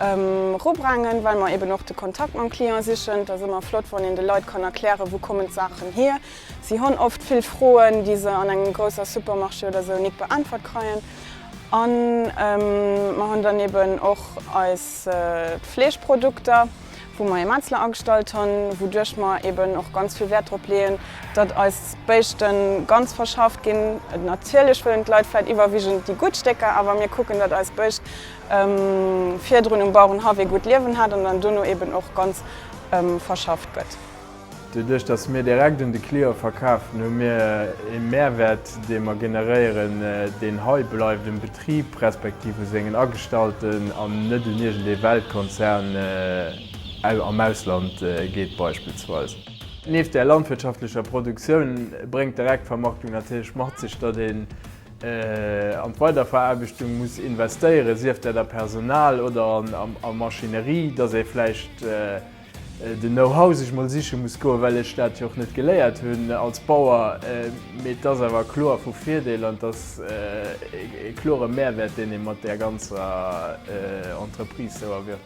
Erubrengen, well mer eben och de Kontakt mam Client sichen. Et ass ëmmer flott, wann een de Leit kann erklären, wou kommen d'Saachen hier. Si hunn oft vill Froen, déi se an engem grousser Supermarché oder esou nik beäntwert kreien. An mer hunn dann eben och eis Fleeschprodukter, wou mer ee Metzler agestallt hunn, wouduerch mer eben och ganz vill Wäert drop leeën, datt eis Béischte ganz verschafft ginn. Natierlech wëllen d'Leit vläicht iwwerwigend déi gutt Stécker, awer mir kucken, datt eis Béischt Virdrun um Bauerenhaff ee gutt Liewen hat an dann duerno eben och ganz verschafft gëtt. Doduerch, dass mir direkt un de Client verkafen, hu mir ee Mehrwert, dee mer generéieren, deen hei bleift um Betrib respektiv u sengen Agestallten an net un iergendee Weltkonzern am Ausland geet beispillsweis. Nieft där landwirtschaftlecher Produktioun bréngt d'Direktvermarktung natierlech mat sech, datt een an d'Weiderveraarbechtung muss investéieren, sief dat a Personal oder a Maschinerie, dass ee vläicht den Know-how sech mol siche muss goen, well ech dat jo och net geléiert hunn als Bauer, mee et ass awer kloer vu Virdeel an et ass e klore Mehrwert, deen ee mat där ganzer Entreprise sou erwirtschaft.